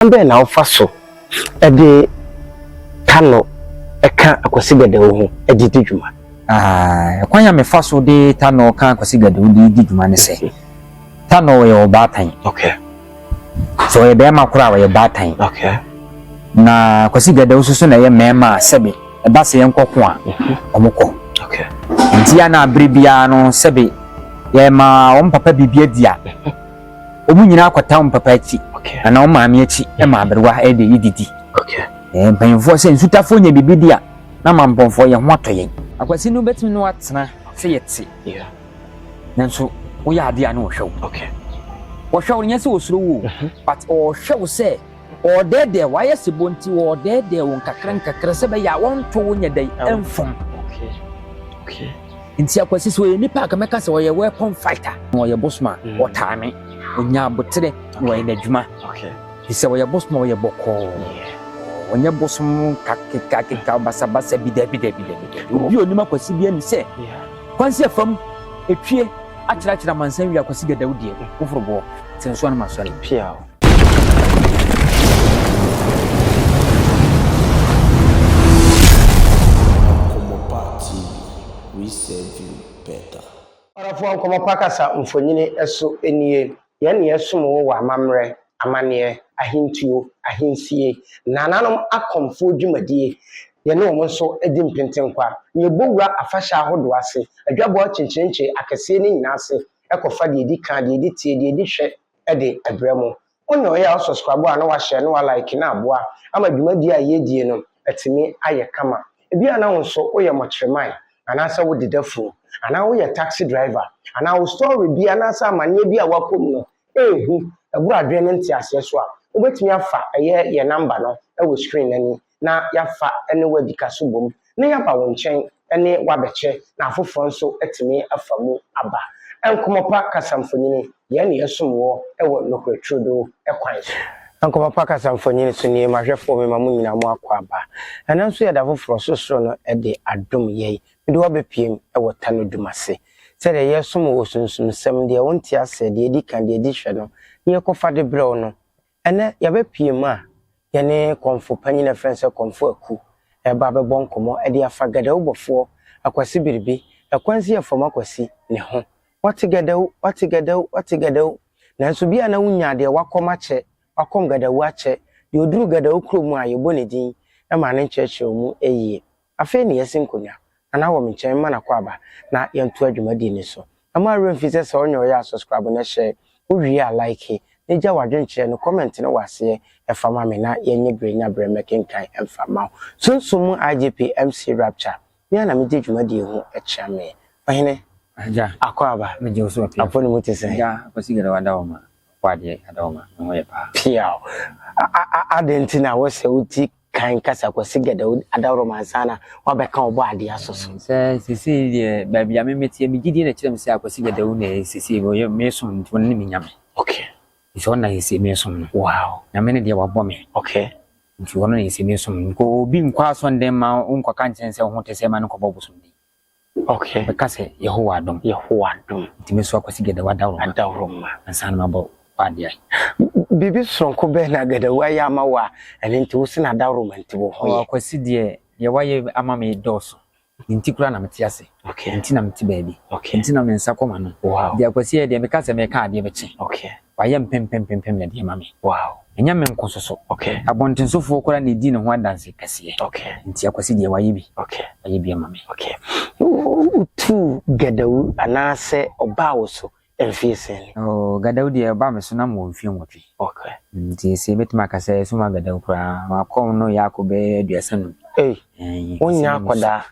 Ɔkwan bɛn na wofa so de Tano ka Akwasi Gadawu ho de di dwuma? Kwan a mefa so de Tano ka Akwasi Gadawu de di dwuma ne sɛ, Tano yɛ ɔbaatan. Sɛ ɔyɛ barima koro a, ɔyɛ baatan. Na Akwasi Gadawu nso so na ɛyɛ mmarima a sɛbe ɛba sɛ yɛnkɔko a, mhm. wɔkɔ. Nti a na bere biara no sɛbe yɛma wɔn papa biribi adi a, mhm. Wɔn nyinaa kɔtaa wɔn papa akyi, anaa wɔn maame akyi ma aberewa de redidi. Mpanyimfoɔ sɛ nsutafoɔ nya biribi di a, na mampɔnfoɔ yɛn ho atɔ yɛn. Akwasi no wobɛtumi ne watena sɛ yɛte, nanso woyɛ adeɛ a na ɔhwɛ wo. Ɔhwɛ wo no nyɛ sɛ ɔsuro wo o, but ɔhwɛ wo sɛ. Wɔredɛɛdɛɛ wo, ayɛ se bɔ nti wɔredɛɛdɛɛ wo nkakrankakra sɛ ɛbɛyɛ a wɔnto wo nyɛ dɛn mfom. Nti Akwasi sɛ ɔyɛ nipa a ka mɛka sɛ ɔyɛ weapon fighter na ɔyɛ bosom a mm. ɔtaa me. Ɔnya abotere na ɔyɛ n'adwuma. Nti sɛ ɔyɛ bosom a ɔyɛ bɔkɔɔ. Ɔnyɛ bosom kakeka keka basabasa bi dabi dabi dabi. Obi onim Akwasi bi ani sɛ kwansi afam etwie akyerɛkyerɛ amansan wie Akwasi gadaw deɛ foforo boɔ sɛ nsoa no ma sɔre. Nkɔmmɔpa TV, We Serve You Better! Ɔdɔfoɔ Nkɔmmɔpa Kasa Mfonini So Ɛnie Yɛn Na Yɛsom Wo Wɔ Amammerɛ, Amanneɛ, Ahentuo, Ahensie, Nnananom Akɔmfoɔ Dwumadie Yɛne Wɔn Nso Di Mpenten Kwa Na Yɛbɔ Wura Afahyɛ Ahodoɔ Ase Adwabɔ Akyenkyerenkye Akɛseɛ No Nyinaa Ase Ɛkɔfa Deɛ Ɛdi Ka, Deɛ Ɛdi Teɛ, Deɛ Ɛdi Hwɛ, de brɛ mo. Mo na ɔyɛ a wo subscribe a na wahyɛ na wa like na aboa ama dwumadie a yɛdie no atumi ayɛ kama. Ebi a na wo nso wo yɛ mɔkyeremae anaa sɛ wo deda funu anaa wo yɛ taxi driver anaa wo story bi anaa sɛ amaneɛ bi a wakɔ mu no ɛɛhu ɛboro adwene ne nteaseɛ so a wobɛtumi afa ɛyɛ yɛ number no ɛwɔ screen no anim na yɛafa ne wo adi ka so bom na yɛaba wo nkyɛn ne wo abɛkyɛ na afoforɔ nso atumi afa mu aba. Nkɔmmɔpa Kasamfonini, Yɛn na yɛsom woɔ wɔ nokorɛ turodoo kwan so. Nkɔmmɔpa Kasamfonini so nie, M'ahwɛfoɔ me ma mo nyinaa mo akwaaba. Ɛnnɛ nso yɛda foforɔ, sorosoro no de adom yɛn, mede wo abɛpiem wɔ ta no dum ase. Sɛdeɛ yɛresom wo wɔ sunsumsɛm, deɛ wonte aseɛ, deɛ ɛdi kan, deɛ ɛdi hwɛ no, na yɛkɔfa de brɛ wo no, Ɛnnɛ, yɛabɛpue mu a yɛne Kɔmfo Panyin a ɛfrɛ no sɛ Kɔmfo Aku reba abɛbɔ nkɔmmɔ de afa Gadawu bɔfoɔ Akwasi Biribi, Ɛkwansiɛ Fam Akwasi, ne ho. Wɔte Gadawu, wɔte Gadawu, wɔte Gadawu. Nanso bia na wonyaa deɛ wakɔm akyɛ, wakɔm Gadawu akyɛ, deɛ ɔduru Gadawu kuro mu a yɛbɔ ne din ma no nkyerɛkyerɛw mu yie. Afei na yɛasi nkonnwa anan wɔ me nkyɛn mma n'akwaaba na yɛntoa dwumadi no so. Mma wo werɛ mfi sɛ sɛ ɔnyɛ ɔyɛ a subscribe na hyɛ, wo wie a like, na gya w'adwenkyerɛ no, comment no wɔ aseɛ, fa ma me na yɛnyɛ berɛ nya berɛ mmɛkenkan mfa mma wo. Sunsum mu IGP MC Rapture, me ara na megye dwumadie ho kyea me. Ɔhene. Agya. Akwaaba. Megye wo so wɔ pia. Apo no mu te sɛn? Agya, Kwasi Gadawo Adawoma, Apo Adeɛ Adawoma, me ho yɛ paa. Piaw. A-a-a-adɛn nti na wosɛ wo ti Kan kasa Kwasi Gɛdɛw adaworo mu ansa na woabɛka Ɔbɔadeɛ aso so. Sɛ seesei deɛ baabi a me meteɛ me gyidie na ɛkyerɛ me sɛ Akwasi Gɛdɛw na ɛyɛ seesei wɔyɛ meesom nti ɔno ne me Nyame. Okay. Nti ɔno na seesei meesom no. Wow. Nyame ne deɛ wabɔ me. Okay. Nti ɔno na seesei meesom no. Nka obi nkɔ asɔndan mma wo nkɔka nkyerɛ no sɛ wo ho te sɛɛ ma no nkɔbɔ bosomden. Okay. Bɛka sɛ Yehowa adom. Yehowa adom. Nti me nso Akwasi Gadawu adaworo ma. Adaworo ma. Ansa na mabɔ w'adeɛ. Biribi soronko bɛn na Gadawu ayɛ ama wo a ɛno nti wo se no adaworo ma nti wo ho yɛ? Akwasi deɛ deɛ wayɛ ama me dɔɔso. Ne nti koraa na mete ase. Okay. Ne nti na mete baabi. Okay. Ne nti na me nsa kɔ m'ano. Wow. Nti Akwasi ɛyɛ deɛ meka sɛ mɛka adeɛ bɛkye. Okay. Wayɛ mpempempempem na de ama me. Wow! Ɛnyɛ me nko nso so. Okay. Abɔntensofoɔ koraa na ɛdi ne ho adanse kɛseɛ. Okay. Nti Akwasi deɛ wayɛ bi. Okay. Wayɛ bi ama me. Okay. Wotuu Gadawu anaasɛ ɔbaa wo so mfeɛ sɛn? Oh, Gadawu deɛ ɔbaa me so na mewɔ mfeɛ nwɔtwe. Okay. Nti seesei mɛtumi aka sɛ ɛsuma Gadawu koraa, makɔ no yɛ akɔ bɛyɛ aduasa num. Ei! Wonyɛ akwadaa.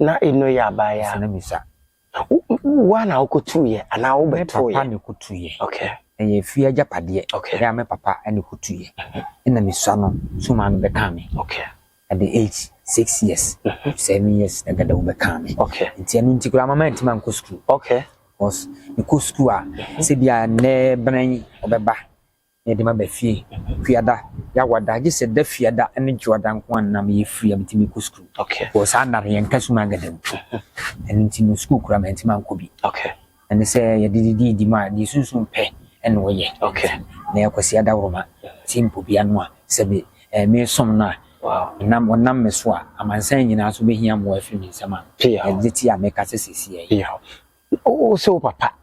na eno yɛ abaa ya. Asane bisa. Wo wo ara na wo kɔ tu yɛ anaa wo bɛ to yɛ? Me papa na ɛkɔ tu yɛ. Okay. Ɛyɛ efie agyapadeɛ. Okay. Ɛyɛ a me papa na ɛkɔ tu yɛ. Ɛna me sua no so maame bɛ kaa me. Okay. At the age six years, seven years na dada wo bɛ kaa me. Okay. Nti ɛno nti koraa mama ntima nkɔ sukuu. Okay. Because me kɔ sukuu a sɛ bi a nnɛ bɛn ɔbɛba. Na yɛde ma ba fie Fiada yɛ awɔda gye sɛ da Fiada ne Dwoada nko ara na meyɛ free a metumi kɔ sukuu. Because saa nna no yɛnka sum ankasa mu. Ɛno nti no sukuu koraa mantumi ankɔ bi. Na ne sɛ yɛde de di di mu a deɛ sunsum pɛ na wɔyɛ. Na ɛyɛ Kwasi Adaworoma Tim Popia no a sɛ me eh meresom no a nam ɔnam me so a amansan nyinaa nso bɛhia mmoa afiri me nsam a ɛde te a meka sɛ seesei yi. Wose wo papa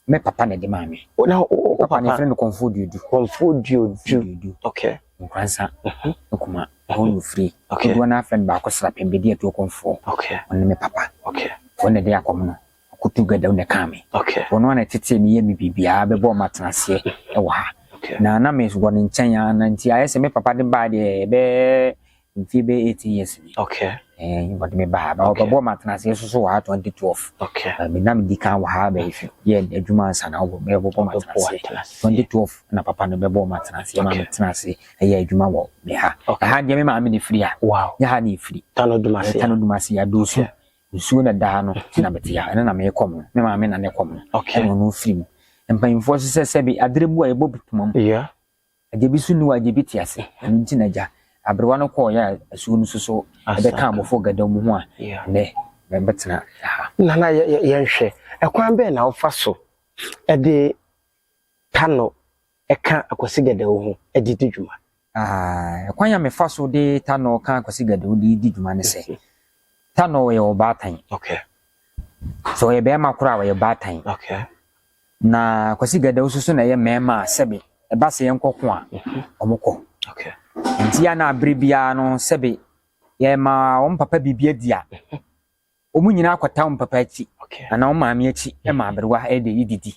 Me papa na ɛde maa me. O na o o papa. Yɛfrɛ no Kɔnfoɔ Duodu. Kɔnfoɔ Duodu. Duodu. Okay. Nkoransa. Mhm. Nkuma. Ɛhɔ na ofiri. Okay. Dodoɔ naa fɛn baako sra pɛn bedi atuo Kɔnfoɔ. Okay. Ɔno ne me papa. Okay. Wɔn na ɛde akɔm no. Ɔkɔ tu gadaw na ɛkaa me. Okay. Wɔn ara na ɛtetee me yɛ me biribiara bɛbɔɔ ma tena aseɛ ɛwɔ ha. Okay. Na na me wɔ ne nkyɛn ara na nti ayɛ sɛ me papa de baa deɛ ɛbɛɛ Mfie bɛyɛ eighteen years ni. Okay. Ɛɛ eh, wɔde me baa. Ba wɔbɛbɔ ma atena ase nso so wɔ ha twenty twelve. Okay. Ɛɛ eh, me nam di kan wɔ ha bɛyɛ fi yɛ adwuma nsa na wɔbɔ bɛyɛ bɔbɔ ma atena ase. Twenty twelve na papa no bɛbɔ ma atena ase ma me tena ase ɛyɛ adwuma wɔ me ha. Ɛha deɛ me maame na efiri ha. Wow. Yɛ ha na efiri. Tano dumasi. Eh, Tano dumasi ya dosu. Nsuo na daa no ti na bɛte ya ɛno na meyɛ kɔm no me maame na ne kɔm no. Okay. Ɛna ɔno firi mu. Mpanyinfoɔ sisɛ sɛbi adrebu a ɛbɔ puma mu. Yeah. Agya bi so nni hɔ a agya bi te ase. Ɛno nti na agya aberewa no kɔɔ yɛ asuo no so so ɛbɛka abɔfo gada mu ho a ɛnɛ mɛbɛtena ha. Nana yɛnhwɛ ɛkwan bɛn na wofa so de Tano ka Akwasi Gadawu ho de di dwuma? Ɛkwan a mefa so de Tano ka Akwasi Gadawu de di dwuma ne sɛ Tano yɛ ɔbaatan. Sɛ ɔyɛ bɛrima koro a ɔyɛ baatan. Na Kwasi Gɛdɛw nso so na ɛyɛ mmarima a sɛbe ɛba sɛ yɛnkɔko a, wɔkɔ. Nti a na abere biara no sɛbe yɛma wɔn papa biribi adi a, wɔn nyinaa kɔtaa wɔn papa akyi anaa wɔn maame akyi ma aberewa de didi.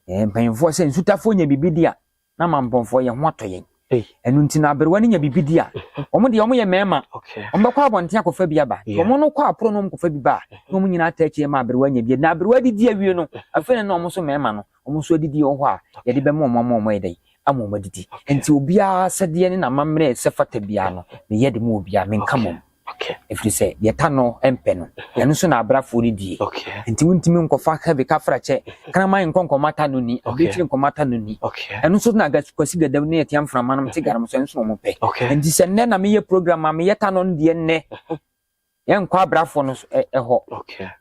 Mpanyinfoɔ sɛ nsutafoɔ nya biribi di a, na ama mpɔnfoɔ yɛn ho atɔ yɛn ɛno nti na aberewa no nya biribi di a wɔn deɛ wɔn yɛ mmarima wɔn bɛkɔ abɔnten akɔfa bi aba wɔn no kɔ aporo no wɔn kɔfa bi ba a na wɔn nyinaa taa akyire ma aberewa nya bi na aberewa didi awie no afei na na wɔn nso mmarima no wɔn nso adidi wɔ hɔ a yɛde bɛma wɔn ama wɔn ayɛ dɛ ama wɔn adidi nti obiara sɛdeɛ ne n'amammerɛ sɛ fata biara no meyɛ de mu obiara menka mom Okay. Ɛfiri sɛ deɛ ta no mpɛ no mhm. ɛno nso na abrafoɔ no die nti wontumi nkɔfa heavy kafra kyɛ kraman nkɔ nkɔma ta no ni abirekyiri nkɔma ta no ni ɛno nso na kwasi gadam ne ɛtea mframa nom te ganom so ɛno nso na wɔn pɛ nti sɛ nnɛ na meyɛ program a meyɛ ta no no deɛ nnɛ mhm. yɛnkɔ abrafoɔ no ɛhɔ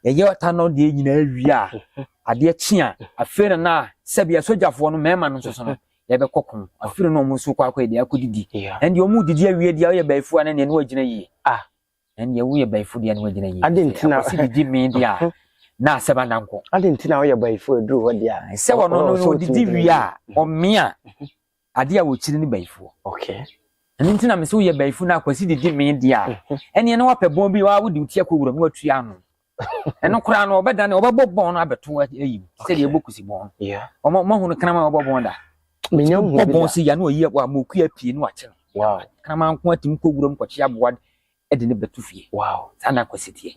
yɛyɛ ta no deɛ nyinaa wie a mhm. adeɛ kye a afei na na sɛbi asogyafoɔ no mmarima no nso so no yɛbɛkɔ ko. Afiri no ɔmo nso kɔ akɔ yɛde akɔ didi. Ɛndeɛ ɔmo didi awie deɛ ɔyɛ bayifu a ne deɛ ne wagyina yie. Ah ɛndeɛ woyɛ bayifu deɛ ne wagyina yie. Adi nti na. Akwasi didi mee deɛ a na asɛm ada nko. Adi nti na ɔyɛ bayifu ɛduru hɔ deɛ a. Sɛ ɔno no ɔdidi wie a ɔmia adeɛ a ɔkyiri ne bayifuɔ. Okay. Ɛno nti na mese woyɛ bayifu na akwasi didi mee deɛ a ɛndeɛ ne wapɛ bɔn bi a wode wo ti akɔ wura mu atua ano. ɛno koraa no ɔbɛdane ɔbɛbɔ bɔn no abɛto ayi sɛdeɛ ɛbɔ kusi bɔn no ɔmahu no kraman ɔbɔ bɔn da bɔ bɔn sɛ ya na ɔyi wa ma ɔkua pie no akye no kraman nko atim kɔ wuram kɔkye aboa de ne bɛto fie saa na akwasi teɛ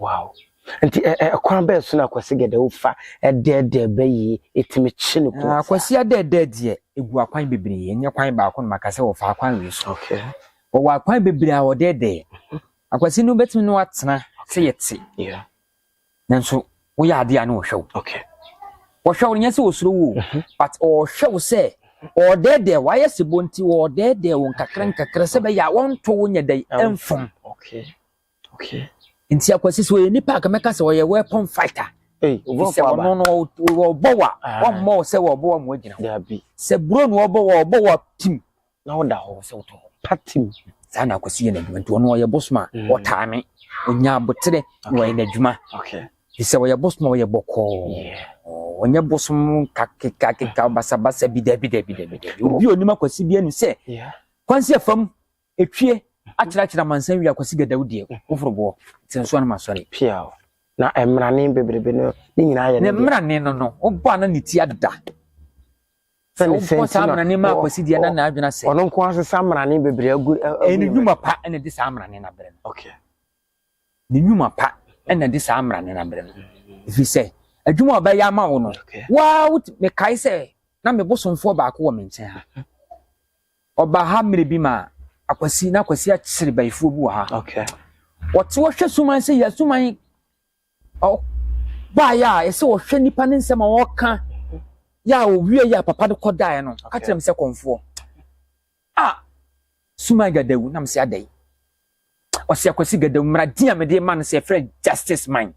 nti ɛkwan bɛɛ so na akwasi gɛdɛ wofa ɛdɛɛdɛɛ bɛyi ɛtumi kye no kɔ akwasi adɛɛdɛɛ deɛ ɛgu akwan bebree ɛnyɛ kwan baako no maka sɛ wɔfa akwan wei so wɔwɔ akwan bebree a wɔdɛɛdɛɛ Akwasi no bɛtumi ne watena sɛ yɛte nanso woyɛ adeɛ a ne wɔhwɛ wo wɔhwɛ wo no nyɛ sɛ wɔsuro wo mhm. but ɔhwɛ wo sɛ ɔdɛɛdɛɛ wayɛ sɛ bɔ nti ɔdɛɛdɛɛ wo nkakra nkakra sɛ bɛyɛ a wɔnto wo nyɛ dɛn ɛmfom nti akwasi sɛ ɔyɛ nipa a kamɛka sɛ ɔyɛ weapon fighter sɛ ɔno no wɔbɔ wa ah. wɔmmɔ wo sɛ wɔbɔ wa mu agyina sɛ buro no wɔbɔ wa wɔbɔ wa tim na ɔda hɔ sɛ ɔtɔ hɔ. Patim. Saa na akwasi yɛ n'adwuma nti ɔno ɔyɛ bosom a mm. ɔtaa me ɔnya aboterɛ na ɔyɛ n'adwuma fi sɛ ɔyɛ bosom a ɔyɛ bɔkɔɔ ɔnyɛ bosom kakekakeka mm. basabasa bi dabi dabi dabi dabi obi onim akwasi bi ani sɛ kwansi afam etwie mm. akyerɛkyerɛ amansan wi akwasi gadaw deɛ mm. woforo boɔ te nso anam asɔre piaw na mmerane bebrebe no ne nyinaa yɛ ne deɛ ne mmerane no no wobɔ a na ne ti ada Sɛ Sɛne sɛ wobɔ nti saa na mmarane maa ɔ- Kwasi deɛ na ɔ- n'adwene asɛe. ɔno nko ara sesa mmarane bebree agu ɛ- agu Ɛyɛ ne ne nnwuma mmerɛ. pa na ɛde saa mmarane no abrɛ no. Okay. Ne nnwuma pa na ɛde saa mmarane no abrɛ no. Ɛfiri sɛ, adwuma a ɔbɛyɛ ama wo no, Okay. waa wot- mekae sɛ na me bosomfoɔ baako wɔ me nkyɛn ha. Ɔbaa ha mmerɛ bi ma Akwasi, na Akwasi akyere bayifoɔ bi wɔ ha. Okay. Wɔte wɔhwɛ suman sɛ yɛ suman Ɔbaeɛ a ɛsɛ ɔhwɛ nipa ne nsɛm a ɔka yɛ a ɔwie yɛ a papa no kɔdaeɛ no ɔka kyerɛ me sɛ kɔmfoɔ a Suman Gadawu nam sɛ adɛn ɔsɛ Akwasi Gadawu mmara din a mede ma no sɛ ɛfrɛ Justice Man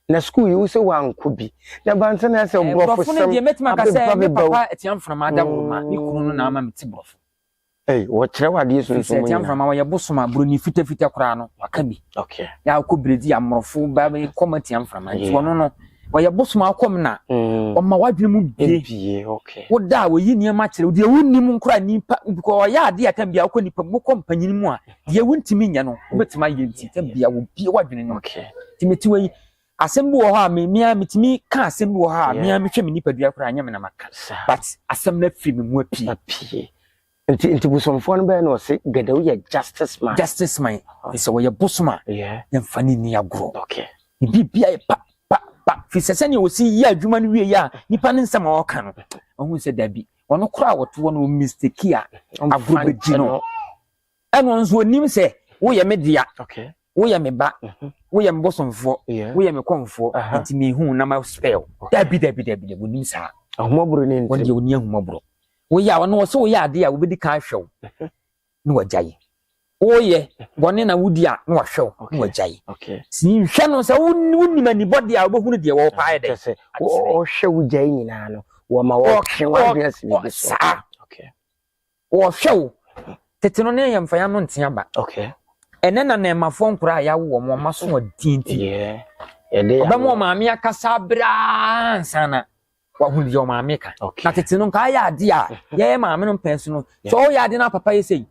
na sukuu yi wo sɛ wankɔ bi na bansa na sɛ borɔfo sɛm abɛba bɛba wo. Papa atiamfona ma ada wo ma ne kunu no na ama me te borɔfo. Ei, wɔkyerɛw adeɛ sunsum mu nyinaa. Ɛfiri sɛ ɛte amframa wɔyɛ bosom a buroni fitafita koraa no waka bi. Okay. Yɛ akɔ biredi amorɔfo ba bɛyɛ kɔm atia amframa nti wɔn no wɔyɛ bosom akɔm na mm. wɔma wadwene mu bie. Ebie okay. Woda a wɔyi nneɛma kyerɛ deɛ wonim nkora nipa bikɔ wɔyɛ adeɛ a tam bia wokɔ nipa mu wokɔ mpanyin mu a deɛ wontumi nyɛ no wobɛtumi ayɛ nti tam bia wobie wadwene no. Okay. Tìmɛtiwa yi Asɛm bi wɔ hɔ a me me ara metumi ka asɛm bi wɔ hɔ a me ara mehwɛ me nipadua koraa nyɛ me na maka but asɛm no afiri me mu apue. apue. Nti nti bosomfoɔ no bɛyɛ na ɔse gɛdɛw yɛ justice man. Justice man sɛ wɔyɛ bosom a yɛmfa no nni agorɔ. Okay. Ne biribia yɛ pa pa pa firi sɛ sɛdeɛ wɔsi yɛ adwuma no wie yɛ a nipa ne nsɛm a ɔka no ɔhu sɛ dabi ɔno koraa a wɔtoɔ no mistake a agorɔ bɛgyi no. ɛno nso ɔnim sɛ woyɛ me dea woyɛ me ba woyɛ me bosomfoɔ woyɛ me kɔmfoɔ nti mehu na ma spell dabi dabi dabi dabi ɔnim saa ahomɔborɔ ne ntɛm ɔdeɛ ɔni ahomɔborɔ woyɛ a ɔno ɔsɛ woyɛ adeɛ a wobɛdi kan ahwɛ wo na wagya yi woyɛ bɔne na wodi a na wahwɛ wo na wagya yi nhwɛ no sɛ wonim anibɔdeɛ a wobɛhunu deɛ wɔpaɛ dɛ sɛ ɔhwɛ wogya yi nyinaa no wɔma wɔtwe wadeɛ asɛm bi so saa Wɔhwɛ wo. Tete no ne ahemfaya no nte aba. Okay. Ɛnɛ na nɛɛmafoɔ nkora a yɛawo wɔn wɔn aso wɔn tienti. Ɔbɛma wɔn maame akasa abraa nsana wahu deɛ wɔn maame ka. Na tete no nka ayɛ ade a yɛyɛ maame no mpɛn so no sɛ ɔyɛ ade na papa yɛ sɛyi.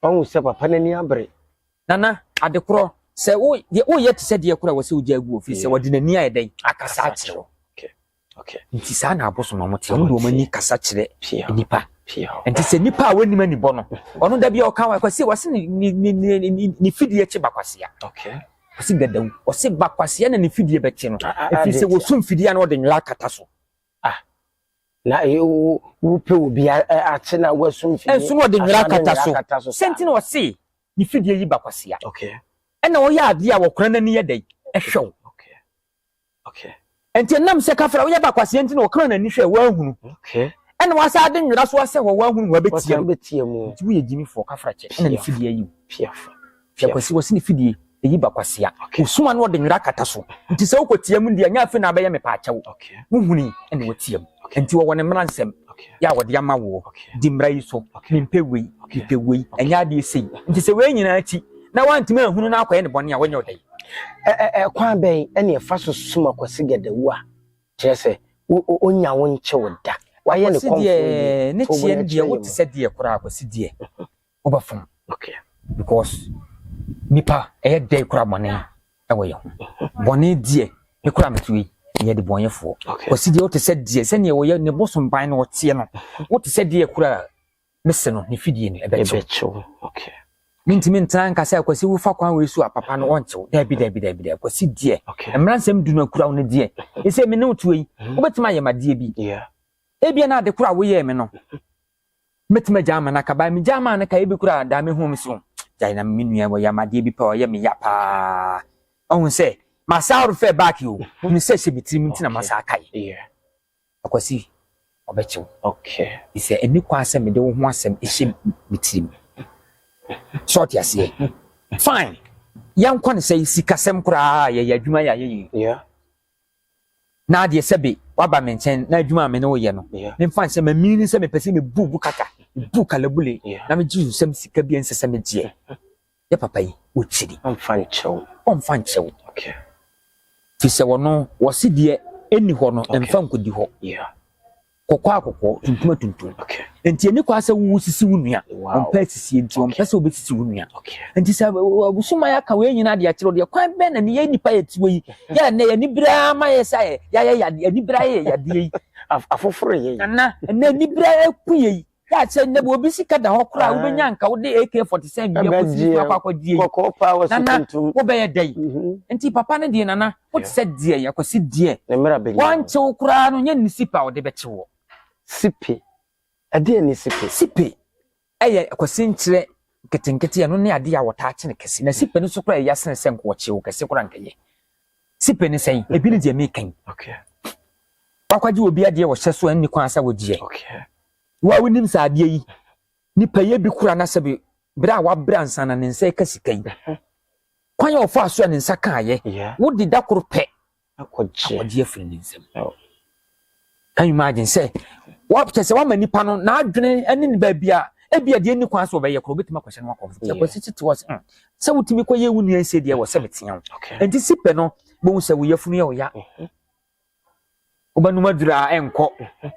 Ɔhu sɛ papa n'ani abere. Nana ade korɔ sɛ woyɛ te sɛ deɛ korɔ a wɔsɛ wogya agu wɔ fie sɛ wɔde n'ani ayɛ dɛn akasa akyerɛ wo. Okay. Nti saa na abosom na wɔte. Wɔn de wɔn ani kasa kyerɛ nipa. Nti sɛ nipa a wɔnim anibɔ no, ɔno da bi a ɔka wa kwasi wɔsi ne ne ne ne ne fidie kye bakwasia. Okay. Wɔsi gadawu. Wɔsi bakwasia na ne fidie bɛkye no. Ah, ah, ah, Efiri sɛ wɔsum fidie a na wɔde nwera akata so. Ah. Na eh, wo wo pe wo bi eh, akye na wɔsum fidie. Ɛnso na wɔde nwera akata so. Sɛnti na wɔsi ne fidie yi bakwasia. Okay. Ɛna wɔyɛ adeɛ a wɔkora n'ani yɛ dɛ ɛhwɛ wo. Okay. Nti ɛnam sɛ kafra woyɛ ba kwaseɛ nti na ɔkra n'ani hwɛ woahunu. Okay. Ɛna wasa ade nwera so asɛ hɔ woahunu hɔ abɛtia mu. Nti woyɛ gyimifoɔ kafra kyɛ ɛna ne fidie ayi wo. Piafo. Hwɛ kwasi wɔsi ne fidie ɛyi ba kwasia. Okay. Wosoma no ɔde nwera kata so. Nti sɛ wokɔtia mu deɛ nyɛ afei na abɛyɛ mepaakyɛw. Okay. Wohuni ɛna wɔtia mu. Enti wɔwɔ ne mmara nsɛm yɛ a wɔde ama woɔ, di mmara yi so, mempɛ wei, mepɛ wei, ɛnyɛ adeɛ sei. Nti sɛ wei nyinaa akyi na woantumi anhunu na akɔyɛ ne bɔne a, wɔnyɛ wo dɛn? Ɛkwan bɛn na yɛfa so som Akwasi Gadawu a kyerɛ sɛ ɔnnya wo nkye wo da? Woayɛ ne kɔmfoɔ yie, to wo bo na kyerɛ yɛn mu. Akwasi deɛ, wo te sɛ deɛ koraa, Akwasi deɛ. wobɛfom because nipa ɛyɛ dɛ kura bɔne ɛwɔ yɛ ho bɔne deɛ ne kura mɛto yi yɛ de bɔnyɛfoɔ ɔsi deɛ ɔte sɛ deɛ sɛdeɛ ɔyɛ ne bo somban no ɔteɛ no wote sɛ deɛ kura mese no ne fidie no ɛbɛkyew mentumi ntena nka sɛ akwasi wofa kwan wei so a papa no ɔnkyew daabi daabi daabi daabi akwasi deɛ mmara nsɛm du no akura wo no deɛ ɛsɛ me ne wotuo yi wobɛtumi ayɛ madeɛ bi ebia na ade koro a woyɛɛ me no mɛtumi agyaa ma no aka baa megyaa maa no ka ebi koraa daa mehuu me so gyae na me nua wɔyɛ ama adeɛ bi pɛ ɔyɛ me ya paa ɔhu sɛ masaa refɛ back o hunu sɛ hyɛ me tirim nti na masaa kae akwasi ɔbɛkyew sɛ ɛni kwan sɛ mede wo ho asɛm ɛhyɛ me tirim sɛ ɔte aseɛ fine yɛnkɔ no sɛ sikasɛm koraa yɛyɛ adwuma yɛ ayɛ yie na adeɛ sɛbe woaba me nkyɛn na adwuma a me ne wo yɛ no memfa nhyɛ ma meaning sɛ mepɛ sɛ mebu wo kaka mebu kalabule na megye wo nsam sika bi a ɛnsɛ sɛ megyeɛ yɛ papa yi wɔkyiri ɔmfa nkyɛw ɔmfa nkyɛw fi sɛ wɔno wɔse deɛ ɛnni hɔ no ɛmfa nkɔdi hɔ kɔkɔɔ a kɔkɔɔ tuntum a tuntum nti ɛni kɔ asɛ wo sisi wo nua ɔmpɛ sisi nti ɔmpɛ sɛ obi sisi wo nua nti sɛ ɔbusuma yɛ aka wei nyina deɛ kyerɛ deɛ kwan bɛn na ne yɛ nipa yɛ tiwa yi yɛ ɛnɛ yɛ ni bere ama yɛ sɛ yɛ yɛ yɛ ni bere yɛ yɛ adeɛ yi afoforo yɛ yi nana ɛnɛ ni bere yɛ ku yɛ yi Hwɛ a sɛ nnɛ bi obi sika da hɔ koraa a, wobɛnya nka wode AK-47 bi akɔsi ne kunu akɔakɔdie yi. Nana, wobɛyɛ dɛn? Mhm. Nti papa no deɛ nana, wote sɛ deɛ yɛkɔsi deɛ. Ne mmerɛ bɛnya. Wɔnkyew koraa no, nyɛ ne sipe a wɔde bɛkye wɔ. Sipe? Ɛdeɛ ne sipe? Sipe ɛyɛ kwasi nkyerɛ nketenkete, ɛno ne adeɛ a wɔtaa kye no kɛse. Na sipe no so koraa ɛya sene sɛ nka wɔkyew kɛse koraa nka yɛ. Sipe ne sɛn? Ebi ne deɛ meka yi. Wakɔgye obi adeɛ wɔ hyɛ so a nni kwan sɛ wogyeɛ. Wo a wonim sɛ adeɛ yi, nipa yɛ bi kora na sɛ bi berɛ a wabrɛ ansa na ne nsa ɛka sika yi. Kwan a ɔfaa so a ne nsa kaeɛ, wode da koro pɛ akɔgye afiri ne nsam. Can you imagine? Sɛ wɔkyɛ sɛ wama nipa no n'adwene ne ne baabi a ebi a deɛ ni kwan so ɔbɛyɛ koro obetumi akɔhyɛ no akɔfo sɛ kɔsi tete wɔ hmm, sɛ wotumi kɔ yɛ wo nua nse deɛ wɔ sɛ metea wo nti si pɛ no bohu sɛ wo yafunu yɛ ɔya mhm. wobɛnum aduru a ɛnkɔ mhm.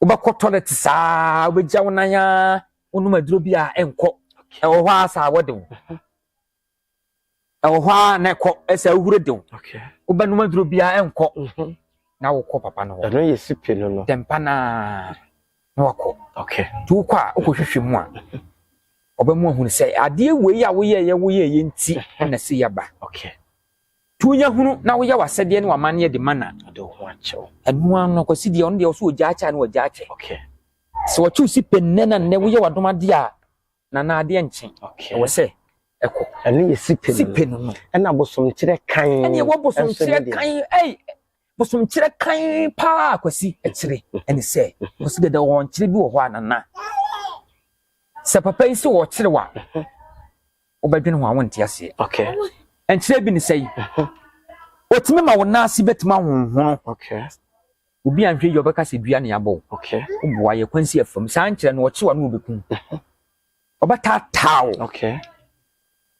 wobɛkɔ tɔlɛt saa wobɛgya wo nan a wonum aduro bi a ɛnkɔ ɛwɔ hɔ a saa wɔde wo mhm. ɛwɔ hɔ ara na ɛkɔ ɛsɛ ahuru de wo wobɛnom aduro biara ɛnkɔ mhm. na wokɔ papa no hɔ ɛno yɛ sipe no no dɛmpa no a na wakɔ nti wokɔ a wokɔhwehwɛ mu a ɔbɛmu ahunu sɛ adeɛ wei a woyɛyɛ woyɛyɛ nti mhm. na sɛ yɛba tu nya hunu na woyɛ w'asɛdeɛ ne w'amanneɛ de ma na ɛno ano akwasi deɛ ɔno deɛ ɔso ɔgya akyɛ a na wagya akyɛ sɛ wɔkyew si pɛ nnɛ na nnɛ woyɛ w'adomadeɛ a na na adeɛ nkye ɛwɔ sɛ ɛkɔ ɛno yɛ sipe sipe no no ɛna bosomkyerɛ kan ɛne ɛwɔ bosomkyerɛ kan ɛyi bosomkyerɛ kan paa kwasi ɛkyerɛ ɛne sɛ kwasi dada wɔn kyerɛ bi wɔ hɔ a nana sɛ papa yi sɛ wɔkyerɛ wa wobɛdwene ho a wonte aseɛ ɛnkyerɛ bi ne sɛ yi otumi ma wo nan ase bɛtumi ahonhono Obi anhwɛ yie ɔbɛka sɛ dua na yɛabɔ wo. Woboa yɛ kwansi afam. Saa nkyerɛ no ɔkye wo a na ɔbɛku wo. Ɔbɛtaataa wo.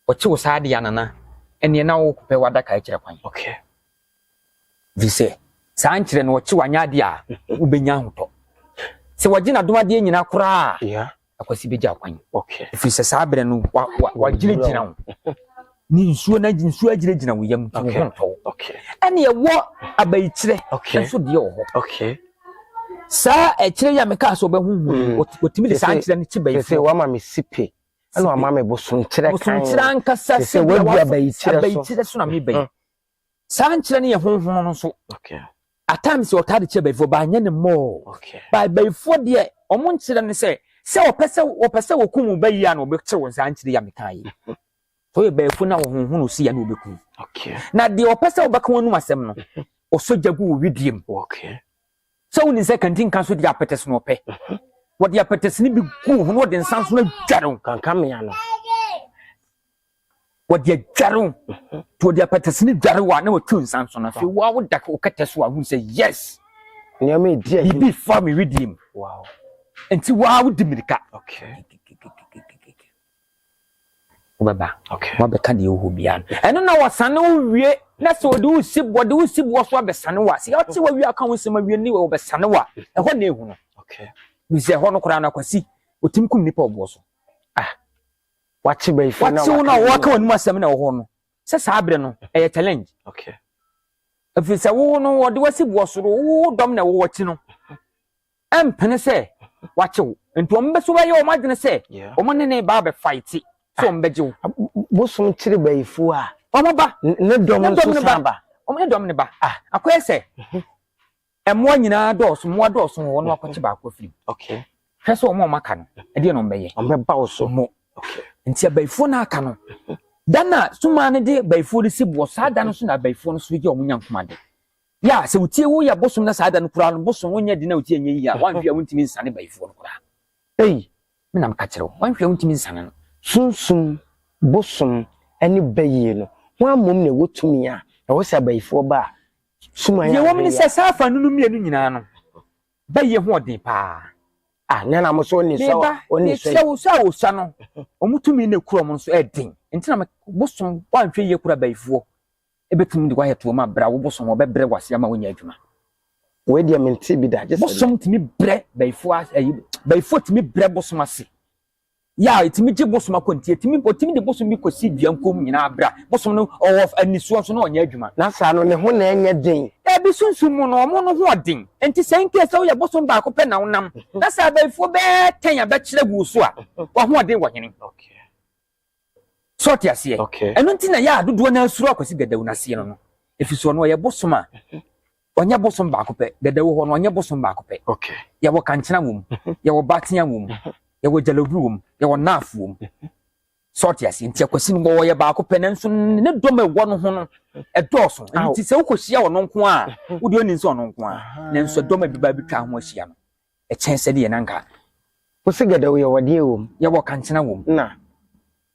Ɔkye wo saa de a Nana ɛneɛ na wopɛ w'adaka akyerɛ kwan. Ɛfiri sɛ saa nkyerɛ no ɔkye wo anyɛ adeɛ a wobɛnya ahotɔ. Sɛ wɔgye n'adomadeɛ nyinaa koraa a. akwasi bɛgya kwan ɛfiri sɛ saa berɛ no wagyinagyina wo ne nsuo na nsuo agyinagyina wo yam nti wo ho ntɔ wo ɛne ɛwɔ abayikyerɛ nso deɛ wɔ hɔ saa ɛkyerɛ yi a mekaa sɛ ɔbɛhuhu mm. ɔtumi de saa nkyerɛ no kye bayi sɛ wama me sipe ɛna wama me bosomkyerɛ kan bosomkyerɛ ankasa sɛ wadua abayikyerɛ so na mebayi mm. Saa nkyerɛ no yɛ honhom no nso. At times ɔtaa de kyerɛ bayifoɔ baa nyɛ ne mmɔɔ. Ba bayifoɔ deɛ wɔn nkyerɛ no sɛ sɛ wɔpɛ sɛ wɔpɛ sɛ wɔkum wo bayi a na wɔbɛkyerɛ wɔn saa nkyerɛ yi a mekaa yi. Sɛ ɔyɛ bayifoɔ na wɔhonhom no si a na wɔbɛkum. Na deɛ wɔpɛ sɛ wɔbɛka wɔn anum asɛm no ɔsɔ gya gu wɔ widie mu. Sɛ wonim sɛ kantinka so deɛ apɛtɛs na ɔpɛ. Wɔde apɛtɛs no bi gu ho na wɔde nsa nso adware wo. Kankamea no. wɔde adware wo nti wɔde apɛtɛsini dware wo a na wɔatu nsa nso no afei woa woda wo kɛtɛ so a wohu sɛ yes nneɛma ɛdi ayi biribi fa me wedeɛ mu nti woa wodi mmirika wobɛba woabɛka deɛ wohɔ biara no ɛno na wɔsane wo wie na sɛ wɔde wo si wɔde wo si boɔ so abɛsane wo a sɛ ɔte wawie aka wo nsɛm awie ne wɔbɛsane wo a ɛhɔ na ɛhu no bisɛ ɛhɔ no koraa no akwasi wɔtumi kum nnipa ɔboɔ so ah Wate bayifoɔ no a wɔaka no wɔaka wɔn mu asɛm na wɔhɔ no sɛ saa berɛ no ɛyɛ challenge. Okay. Ɛfiri sɛ wowo no wɔde wasi boɔ soro wowo dɔm na ɛwɔ wɔakyi no ɛmpene sɛ wakyew nti wɔn bɛ so bɛyɛ wɔn adwene sɛ wɔn ne ne ba abɛfaete sɛ wɔn bɛgye wo. Ah, bosom kyere bayifoɔ a. Wɔn ba. Ne dɔm nso san ba. Wɔn ne dɔm ne ba. Ah. Akɔyɛ sɛ. Mhm. Mmoa nyinaa dɔɔso, mmoa dɔɔso wɔ hɔ na wakɔkye baako afiri mu. Okay. Hwɛ sɛ wɔn a wɔaka no, ɛdeɛ na wɔbɛyɛ. Wɔbɛba wo so. Mo. Okay. Nti abayifoɔ no aka no, da no a sumaa no de abayifoɔ no si boɔ, saa da no so na abayifoɔ no so yɛ wɔn nyankomade. Yɛ a sɛ wotie wo yɛ bosom na saa da no koraa no bosom wonyɛ de na wotie nyɛ yie a, wɔanhwɛ a wontumi nsane bayifoɔ no koraa. Ei, me na meka kyerɛ wo, wɔanhwɛ a wontumi nsane no. Sunsum bosom ne bayie no, hwan mmom na ɛwɔ tumi a ɛwɔ sɛ abayifoɔ ba a Nea ɛwɔ mu ne sɛ, saa afanu no mmienu nyinaa no, bɛyɛ ho ɔden paa. Ah, na na mo so ne sɔ ne sɔ. Sɛ wosɔ a wosɔ no, wɔn tumi na ekura wɔn nso ɛden. Nti na bosom wɔanhwɛ yie kura bayifoɔ ebetumi de wɔayɛ toɔ ma brɛ awo bosom wɔbɛbrɛ wase ama wɔnyɛ adwuma. Wei deɛ mente bi da. Bosom tumi brɛ bayifoɔ ayi bayifoɔ tumi brɛ bosom ase yɛ a ɛtumi gye bosom akɔ nti ɛtumi ɔtumi de bosom bi kɔsi dua nkom nyinaa berɛ a bosom no ɔwɔ anisoɔ nso na ɔnyɛ adwuma. Na saa no ne ho na ɛnyɛ den. Dabi, sunsum mu no wɔn no ho ɔden. Enti sɛ in case sɛ woyɛ bosom baako pɛ na wonam na sɛ abayifoɔ bɛyɛ ten abɛkyerɛ gu wo so a, w'ahoɔden wɔ hene? So ɔte aseɛ? Ɛno nti na ɛyɛ a dodoɔ no ara suro Akwasi Gadawu no aseɛ no no. Ɛfiri soɔ no ɔyɛ bosom a mhm. ɔnyɛ bosom baako pɛ. Gadawu hɔ no ɔnyɛ bosom baako pɛ. Yɛwɔ kankyena wom, mhm. yɛwɔ batea wom, mhm. yɛwɔ gyalabiri wom, yɛwɔ naaf wom. So ɔte aseɛ? Nti Akwasi no ɔyɛ baako pɛ nanso ne dɔm a ɛwɔ no ho no ɛdɔɔso. Nti sɛ wokɔhyia ɔno nko a, wodeɛ ɔnim sɛ ɔno nko a, nanso dɔm a ɛbɛba bɛtwa ho ahyia no. kyɛn sɛdeɛ na nka. Wose gɛdɛw yɛwɔ deɛ wom. Yɛwɔ kankyena wom. Na.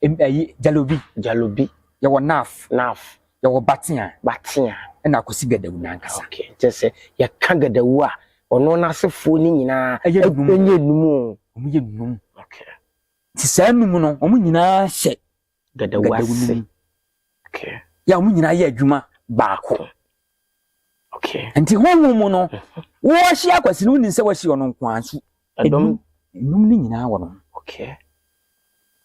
Ayi jalobi. Jalobi. Yɛwɔ naf. Naf. Yɛwɔ batea. Batea. Ɛna akosi gɛdɛw nankasa. Ok kyɛ sɛ yɛka gɛdɛw a ɔno n'asefoɔ no nyinaa ɛyɛ num. Ɛnyɛ num o. Wɔn yɛ num. Ok. Nti saa num no wɔn nyinaa hyɛ Gadawu no mu. Yɛ a wɔn nyinaa yɛ adwuma baako. Nti honhom mu no, mhm. wɔahyia akwasi no wonim sɛ wɔahyia ɔno nko ara nso ɛnum no nyinaa wɔ no.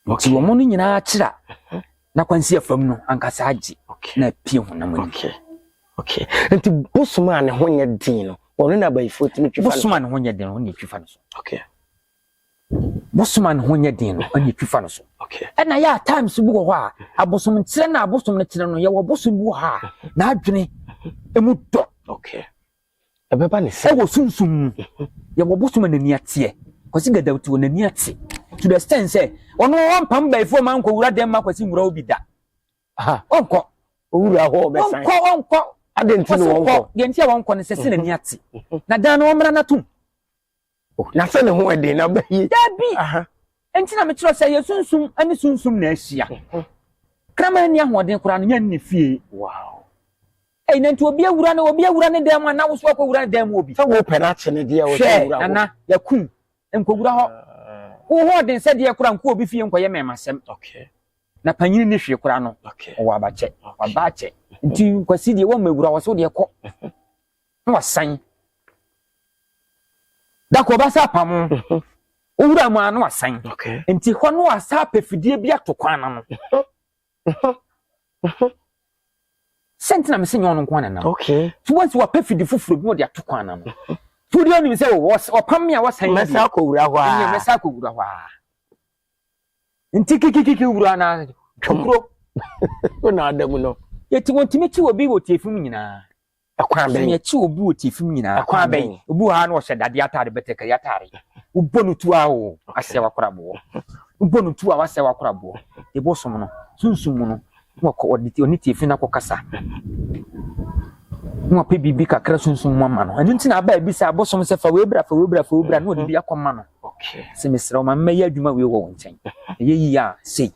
Nti wɔn no nyinaa kyerɛ mhm. na kwansi afam no ankasa agye na apue honam mu. Nti bosom a ne ho nyɛ den no, ɔno na abayifoɔ tumi twifa no. Bosom a ne ho nyɛ den no, ɔno na ɛtwifa no so. bosom a ne ho nyɛ den no ɛna efi fa no so ɛna yɛ a times bi wɔ hɔ a abosom nkyerɛ na abosom no kyerɛ no yɛwɔ bosom bi wɔ hɔ a n'adwene emu dɔ ɛbɛba ne sɛ ɛwɔ sunsum mu mhm. yɛwɔ bosom a n'ani ateɛ kwasi gadaw ti wɔ n'ani ate to the extent sɛ ɔno ɔmpam bɛyifoɔ ma nkɔ wura dɛm ma kwasi nwura obi da ɔnkɔ owura hɔ ɔbɛsan ɔnkɔ ɔnkɔ adeɛ nti na wɔnkɔ deɛ nti a wɔnkɔ no sɛ sɛ n'ani ate mhm. na dan no wɔmmra n'atom Oh, na sɛ ne ho ɛden na ɔbɛ yi. Dabi! Nti na mekyerɛ sɛ yɛ sunsum ne sunsum na ahyia. Mhm. Kraman nni ahoɔden koraa no, yɛn ne fie. Wow. Ei, na nti obi awura no, obi awura ne dan mu a, na woso akɔ wura ne dan mu obi. Sɛ wopɛ no akye ne deɛ ɔsɛ wura hɔ. Hwɛ, nana, yakum, nkɔwura hɔ. Ah. Wo ho ɔden sɛ deɛ koraa nkɔ obi fie nkɔyɛ mɛmasɛm. Okay. Na panyin ne hwee koraa no, ɔwɔ abakyɛ, ɔba akyɛ. Nti nkwasi deɛ wɔn mɛwura wɔ so deɛ kɔ. na wasan dako ɔba sɛ apam mhm. wowura mu a na wasan nti hɔ no asa apɛ fidie bi ato kwan no no mhm. mhm. sɛnti na mese nyɛ ɔno nkoa ne nam so wansi wapɛ fidi foforɔ bi wɔde ato kwan no no so deɛ ɔnim sɛ ɔpam me a wasan mɛsa akɔwura hɔ a mɛsa akɔwura hɔ a nti kikikiki wura na twokuro wona ada mu no yɛti wɔntumi kyi wɔ bi wɔ tiefum nyinaa Ɛkwan bɛn? Sɛ yɛ kyi obi wɔ tiefim nyinaa. Ɛkwan bɛn? Obi wɔ ha na ɔhyɛ dadeɛ ataade bɛtɛkari ataade. Wobɔ no tu a o, asɛ wakoraboɔ. Wobɔ no tu a wasɛ wakoraboɔ. Ebo som no, sunsum mu no, na ɔkɔ ɔde ɔne tiefim no akɔkasa. Na ɔpɛ biribi kakra sunsum mu ama no. Ɛno nti na aba ebi sɛ abosom sɛ fa wei bra, fa wei bra, fa wei bra, na ɔde bi akɔma no. Sɛ mesrɛ wo ma mmɛyɛ adwuma wei wɔ wo nkyɛn. Ɛyɛ yie a sei.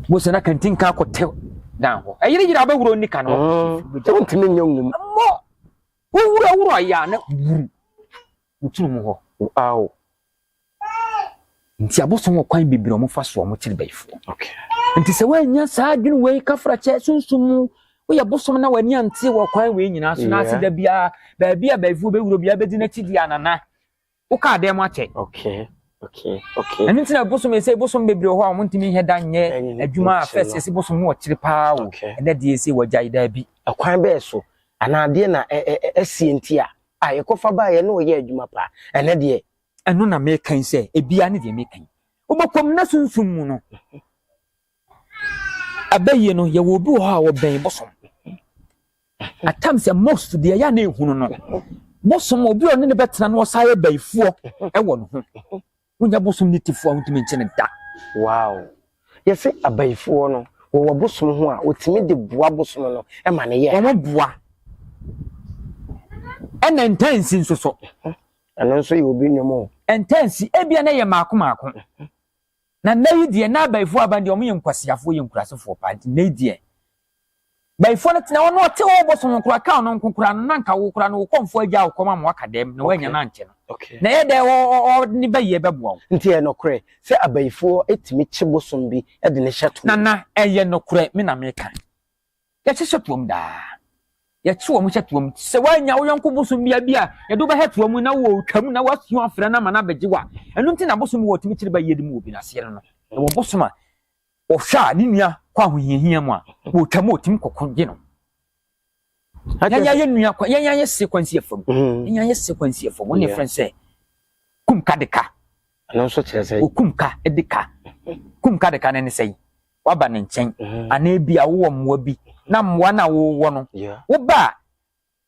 Mose na kantin kan kɔ te dan hɔ. Ɛyere yere abɛwura onni kan hɔ. Wontumi nyɛ nwom. Mmɔ wowura wura yɛ a na wuru wotunu mu hɔ. Aw. Nti abosom wɔ kwan bebree wɔn fa so wɔn kyerɛ bɛyifoɔ. Okay. Nti sɛ wɔanya saa adwene wei kafra kyɛ sunsun mu woyɛ bosom na w'ani ante wɔ kwan wei nyinaa so na ase da biara baabi a bɛyifoɔ bɛwura biara bɛdi n'akyi di anana. Wo kaa dɛn mo akyɛ. Okay okay okay. Ɛno nti na bosom ɛsɛ bosom bebree wɔ hɔ a wɔn ntumi nyɛ da nyɛ adwuma a fɛs ɛsɛ bosom no ɔkyere paa o ɛnɛ deɛ ɛsɛ wɔgya yi daa bi. Ɛkwan bɛɛ so anaa deɛ na ɛsie nti a a yɛkɔfa baa yɛ na ɔyɛ adwuma paa ɛnɛ deɛ. Ɛno na mɛka yi sɛ ebia ne deɛ mɛka yi wobɛkɔm na sunsum mu no Abayie no yɛwɔ obi wɔ hɔ a ɔbɛn bosom. At times sɛ most deɛ ɛyɛ a na ehunu no bosom obi a ɔne ne bɛtena no ɔsan yɛ bayifoɔ ɛwɔ ne ho. Wonya bosom ne tifoɔ a wontumi nkye ne da. Wow. Yɛse abayifoɔ no wɔwɔ bosom ho a wɔtumi de boa bosom no ma ne yɛ. Wɔn boa. Ɛna ntansi nso so. Ɛno nso yɛ obi nnwom o. Ntansi ebia na ɛyɛ maako maako. Na nnɛ yi deɛ na bayifoɔ aban deɛ wɔn yɛ nkwasiafoɔ wɔyɛ nkurasefoɔ paa nti nnɛ yi deɛ bayifoɔ no tena hɔ na ɔte hɔ bosom ho koraa kan no nko koraa no na nka wo koraa no wo kɔmfoɔ agya wo kɔm ama waka dɛm na woanya no ankyɛ no na ɛyɛ dɛ ɔde ne bayi ɛbɛboa wo. Nti ɛyɛ nokorɛ sɛ abayifoɔ tumi kye bosom bi de no hyɛ toɔ? Nana ɛyɛ nokorɛ me na meka. Yɛte hyɛ toam daa. Yɛte wɔn hyɛ toam. Sɛ woanya wo yɔnko bosom bia bi a yɛde wobɛhyɛ toa mu na wɔretwa mu na woasua afrɛ no ama no abɛgye wo a, ɛno nti na bosom wɔ tumi kyere ba yiyedi mu wɔ bi no aseɛ no no. Ɛwɔ bosom a wɔhwɛ a ne nua kɔ ahohiahia mu a wɔretwa mu ɔtumi kɔkɔ gye no. Yɛn ayɛ nua kɔ yɛn ayɛ se kwansi afam. Mm. Yɛn ayɛ se kwansi afam. Wɔn yɛ fɛn sɛ kum ka de ka. Ɛno nso kyerɛ sɛ. Okum ka de ka. Kum ka de ka ne ne sɛ yi. woaba ne nkyɛn anaa ebia wowɔ mmoa bi na mmoa no a wowɔ no woba a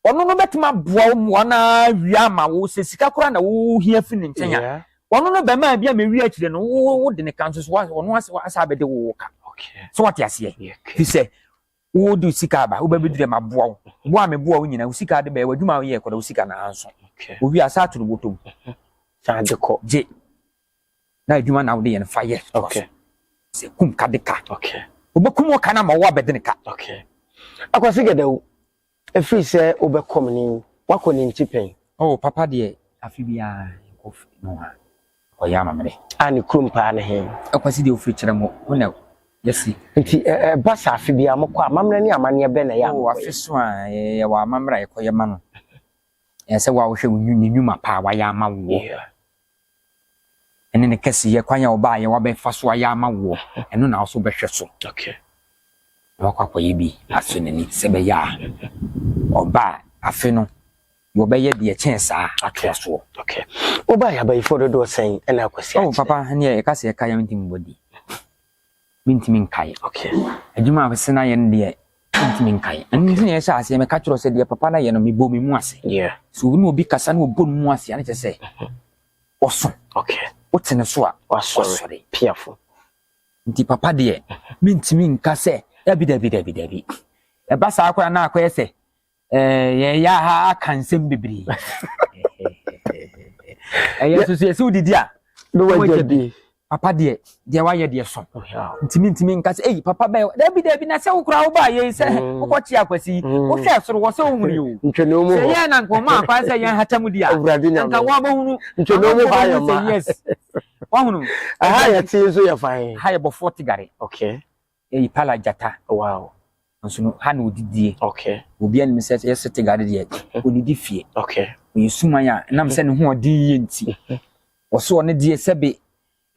ɔno no bɛtumi aboa wo mmoa no awia ama wo sɛ sika koraa na wohia fi ne nkyɛn a ɔno no bɛma bi a mɛwi akyire no wode ne ka nso so ɔno asa bɛde wo ka so wate aseɛ fi sɛ wode sika aba wobɛbɛduru ma boa wo boa me boa wo nyina wo sika de bɛyɛ w'adwuma woyɛ kɔda wo sika na anso owi asa ato no bɔtɔm gye na adwuma na wode yɛn fa yɛ toa so sɛ kum ka de ka wobɛkum ɔka no ama wo abɛde ne ka akwase gɛdawu ɛfiri sɛ wobɛkɔ me ne wakɔ ne nti pɛn oh papa deɛ afe biara nkɔ no ha ɔyɛ amammerɛ a ne kurom paa ne he akwase deɛ wofiri kyerɛ mu wo na yɛsi nti ɛba sɛ afe biara mokɔ amammerɛ ne amanneɛ bɛ na yɛ oh afe so a yɛwɔ amammerɛ a yɛkɔyɛ ma no ɛsɛ wo a wohwɛ ne nnwuma paa wayɛ ama woɔ ɛne ne kɛseyɛ, kwan a ɔbaeɛ, wabɛfa so ayɛ ama woɔ, ɛno na wo nso wobɛhwɛ so. Na wakɔ akɔyɛ bi asɔ n'ani sɛ ɛbɛyɛ a ɔba a afe no deɛ ɔbɛyɛ deɛ ɛkyɛn saa atoa soɔ. Wobaeɛ abayifoɔ dodoɔ sɛn na akɔsi akyerɛ? Oh papa, ɛneɛ yɛka sɛ yɛka yɛn nti mmɔdi. mentumi nkae. Okay. Adwuma a ɔsɛ na yɛ no deɛ, mentumi nkae. Ɛno nti na yɛhyɛ aseɛ, mɛka kyerɛ sɛ deɛ papa no yɛ no, mebɔ me mu ase. Yeah. So wo ne obi kasa na ɔbɔ ne mu ase a, ne kyerɛ sɛ ɔso. Okay. Wote ne so a, wasɔre. Piafo. Nti papa deɛ, mentumi nka sɛ dabi dabi dabi dabi. Ɛba saa koraa na akɔyɛ sɛ Eh, yɛn ya ha aka nsɛm bebree. Ɛyɛ eh, soso yɛsi wodidi a. Ne wagya bi. Papa deɛ deɛ wayɛ deɛ so. Oh, ntumi ntumi nka sɛ eyi papa bɛyɛ dabi dabi na sɛ wokura wo ba yɛ sɛ mm. wokɔ kyi akwasi yi mm. wohwɛ soro wɔ sɛ wohunu yi o. Ntwene mu hɔ. Sɛ yɛn na nkɔmɔ akwa sɛ yɛn hata mu di a. Nka wɔabɛhunu. Ntwene mu hɔ ayɛ ma. Wɔhunu. Ɛha yɛ tee nso yɛ fan. Ha yɛ bɔfoɔ tigare. Okay. yɛ ipala gyata wow nso no ha na odidie okay obi anim sɛ yɛ sete gade deɛ mhm. onidi fie okay oyɛ suman a nam sɛ ne ho ɔden yie nti mhm. wɔso ɔne deɛ sɛbe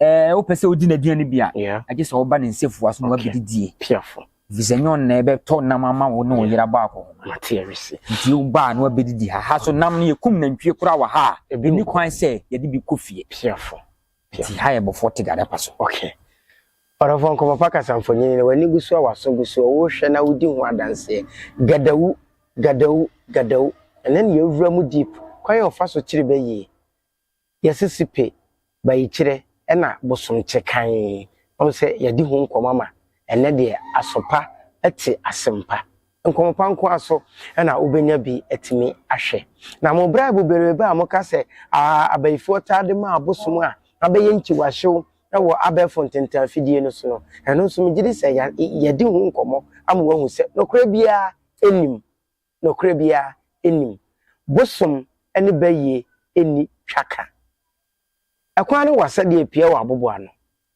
ɛɛ eh, wopɛ sɛ wodi n'aduane bi a agye sɛ wɔba ne nsɛfua so na wabɛdi die piafo fisɛ nyɛ ɔnna ɛbɛtɔ nam ama wo ne ɔyera baako ho nti wobaa na wabɛdi di ha ha so nam no yɛkum nantwie koraa wɔ ha a ɛni kwan sɛ yɛde bi kɔ fie piafo nti ha yɛ bɔfoɔ te gade pa so okay Ɔdɔfoɔ Nkɔmmɔ Pa Kasa Mfonini no W'ani gu soɔ W'aso gu soɔ Worehwɛ na wodi ho adanseɛ Gadawu, gadawu, gadawu Ɛnnɛ na yɛawura mu deep Kwan a wɔfa so kyere bɛ yie Yɛse sipe, bayikyerɛ ɛna bosomkye kann Wahu sɛ yɛadi ho nkɔmmɔ ama ɛnnɛ deɛ Aso pa te asɛm pa. Nkɔmmɔ pa nko ara so na wobɛnya bi atumi ahwɛ. Na mo braibo bereebe a moka sɛ abayifoɔ taa de ma abosom a abɛyɛ nkyiwahyew wɔ abɛɛfo ntentan afidie no so no, ɛno nso megye di sɛ yɛadi ho nkɔmmɔ ama woahu sɛ nokorɛ biara nnim. Nokorɛ biara nnim. Bosom ne bayie nni twaka. Ɛkwan ne w'asɛdeɛ pia wɔ aboboano.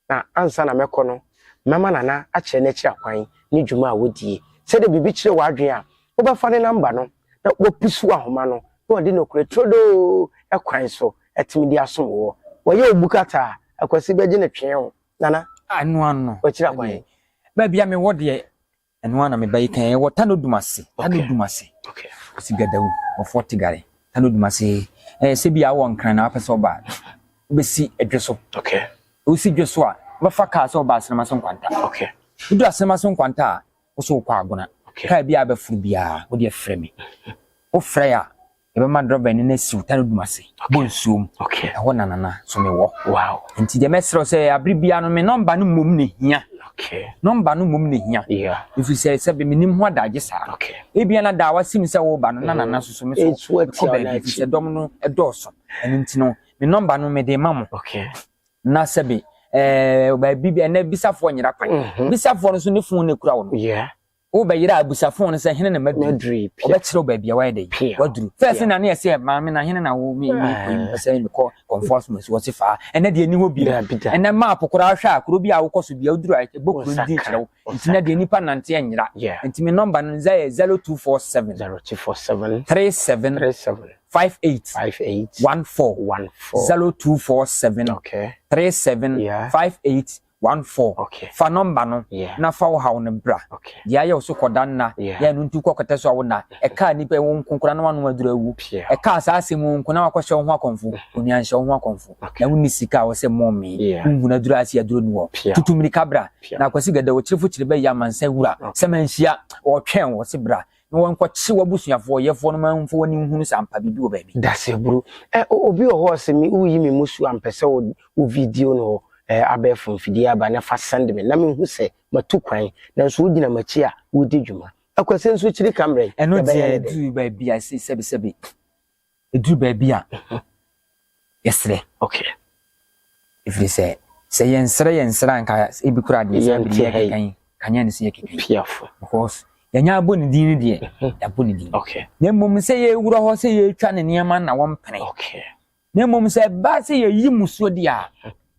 Na ansa na mɛkɔ no, mɛma Nana akyerɛ n'akyiri akwan ne dwuma a wodie. Sɛdeɛ biribi kyere wo adwene a, wobɛfa ne namba no na wapusuw ahoma no na ɔde nokorɛ turodoo kwan so atumi de asom woɔ. Wayɛ wo bukata a, Akwasi bɛgye no twee wo, Nana, w'akyiri akwan. Baabi a mewɔ deɛ, Ɛno ara na me ba yi kae. Ɛwɔ Tano Dumasi. Tano Dumasi. Ɔsi Gadawu wɔ Fort Tigare. Tano Dumasi. Ɛɛ sɛ bi a wɔ Nkran na wapɛ sɛ ɔba a, wobɛsi Dwe so. Wosi Dwe so a, wobɛfa kaa sɛ ɔba Asenema so Nkwanta. Wodu Asenema so Nkwanta a, wo so wokɔ Agona. Kaa bi a bɛforo biara, wo deɛ frɛ me. Wofrɛ a. yɛbɛma drɔba no na siw ta no dum ase bɔ nsuo mu ɛhɔ na nana so me wɔ nti deɛ mɛsrɛ sɛ abere biara no me nɔmba no mmom na hia nɔmba no mmom na hia ɛfiri sɛ sɛ bɛ menim ho adagye saa ebia na daa wasim sɛ woba no na nana so so me so kɔ baabi ɛfiri sɛ dɔm no ɛdɔɔso ɛno nti no me nɔmba no mede ma mo na sɛbe ɛɛ baabi ɛnɛ bisafoɔ nyera kwan bisafoɔ no so ne fon na ekura wɔn. Wobɛyera abusafo no sɛ, Hena na maduru yi? Ɔbɛkyerɛ wo baabi a wayɛ dɛn? Waduru. Fɛɛ sɛ na ne yɛ sɛ, Maame, na hene na wo me me kɔ yi? Mepɛ sɛ me kɔ Kɔmfoa Som Asuo ɔse faa. Ɛnnɛ deɛ ɛnni hɔ bio. Ɛnnɛ map koraa hwɛ a, kuro bi a wokɔ so bia woduru a ɛbɔ kuro no din kyerɛ wo. Nti na deɛ nnipa nante ɛnyera. Nti me nɔmba no nza yɛ 0247 37 58 14 0247 37 58 One four, Fa nɔmba no na fa wo haw no bra. Deɛ ayɛ wo so kɔ da nna, yɛ ɛno nti kɔ kɔtɛ so a wo nna. Ɛkaa nnipa yi, wo nko koraa na w'ano aduru awu. Ɛkaa saa asɛm yi, wo nko na wakɔhyɛ wo ho akɔmfo. Onua nhyɛ wo ho akɔmfo. Na wonni sika a wɔ sɛ mom me, wonhunu aduru ase aduro nni hɔ. Tutu mmirika bra. Na Akwasi Gada, ɔkyirefo kyiri bɛyɛ amansan wura. Sɛ manhyia, ɔretwɛn wo, ɔse bra. na wɔnkɔkye w'abusuafoɔ, yɛfoɔ, no ma mfa w'ani nhunu sɛ ampa biribi wɔ baabi. Dasaburo. Ɛ, o, obi wɔ hɔ a ɔse me, woyi me musuo a, mpɛ sɛ wo, wo video no wɔ, ɛ, abɛɛfo mfidie aba na fa send me na menhu sɛ matu kwan, nanso wogyina m'akyi a woredi dwuma. Akwasi nso kyiri ka mmerɛ yi, Ɛno deɛ yɛbɛyɛ no dɛn? ɛduru baabi a ɛse sɛbisɛbi. ɛduru baabi a yɛserɛ okay ɛfiri sɛ sɛ yɛnsrɛ yɛnsrɛ anka ebi kora deɛ sɛ biribi yɛkeka yi kanyɛ ne sɛ yɛkeka yi because yɛnyɛ abɔ ne din no deɛ yɛabɔ ne din na mmom sɛ yɛwura hɔ sɛ yɛtwa ne nneɛma na wɔmpene na mmom sɛ ɛba sɛ yɛyi musuo deɛ a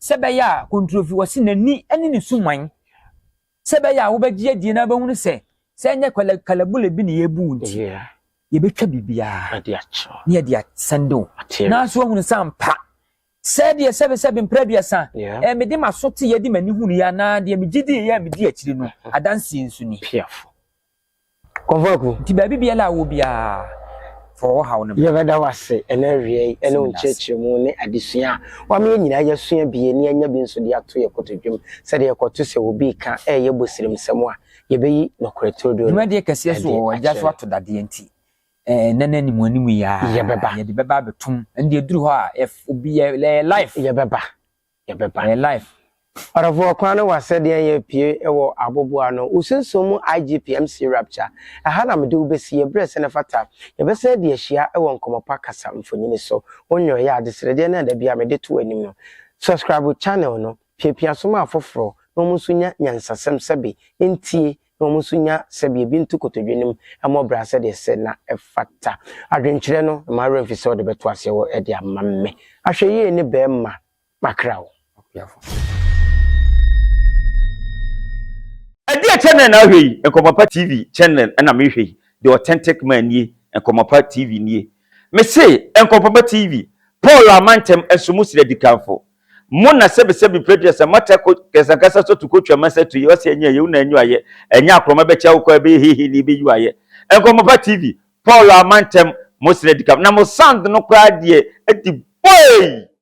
sɛ bɛyɛ a kontrofi wɔ se n'ani ne ne suman Sɛ ɛbɛyɛ a wobɛgye adie na wobɛhunu sɛ sɛ ɛnyɛ kalabule bi na yɛbu nti yɛbɛtwa biribiara na yɛde asɛnde wo nanso woahunu sɛ ampa sɛ deɛ sɛbesɛbe mprɛ aduasa ɛɛ mede m'aso te yɛde m'ani hunu yɛ anaa deɛ megye di yɛ a medi akyiri no adanseɛ nso ni Kɔ faako. Nti baabi biara a wowɔ biara, fa wo haw no bra. Yɛbɛda wo ase ɛna awia yi ɛne wo nkyerɛkyerɛmu ne adesua a wama yɛn nyinaa yɛasua bi ani anya bi nso de ato yɛn kotodwem sɛdeɛ ɛkɔto sɛ obi reka ɛreyɛ bosirimsɛm a yɛbɛyi nokorɛ turodoo no ɛde akyerɛ no. Dwumadie kɛseɛ so wɔ gya so ato dadeɛ nti ɛnnɛ no anim anim yi ara yɛde bɛba abɛtom ɛnde ɛduru hɔ a obi yɛ live. Yɛbɛba. yɛbɛba. Yɛ live. Ɔdɔfo ɔkwan no wa sɛ deɛn yɛ pie wɔ aboboɔ ano wo sunsum mu IGP MC Rapture ɛha na mede wo bɛsi yɛ berɛ sɛ na ɛfata yɛbɛsan adi ahyia wɔ nkɔmmɔ pa kasa mfonini so wo nnɔeɛ adesrɛdeɛ no a da biara mede to w'anim no subscribe channel no piapia so ma afoforɔ na wɔn nso nya nyansasɛm sɛbe ntie na wɔn nso nya sɛbea bi nto kotodwe no mu mmɔ bra sɛdeɛ ɛsɛ na ɛfata. Adwenkyerɛ no, mma wo werɛ mfi sɛ wode bɛto aseɛ wɔ de ama me. Ahwɛyie ne bɛrima makra wo. Akuafo. Ɛdeɛ channel na ahwɛ yi? Nkɔmɔpa TV channel na mehwɛ yi. The authentic man nie, Nkɔmɔpa TV nie. Mese Nkɔmɔpa TV, Paul Amantam Nsomu Srɛ Dikanfoɔ. Mo na sɛbisɛbi pɛdua sɛ mata ko kɛsankasa sɔ tu ko twa ma sɛ tu yɛ ɔsɛ ɛnyɛ yɛ wo na ɛnyɔ ayɛ ɛnyɛ akorɔma bɛ kyɛ wo kɔ ɛbɛ yɛ hihi ni bɛ yɔ ayɛ nkɔmɔ pa TV Paul a ma ntɛm mo srɛ di ka na mo sound no koraa deɛ ɛdi boeii.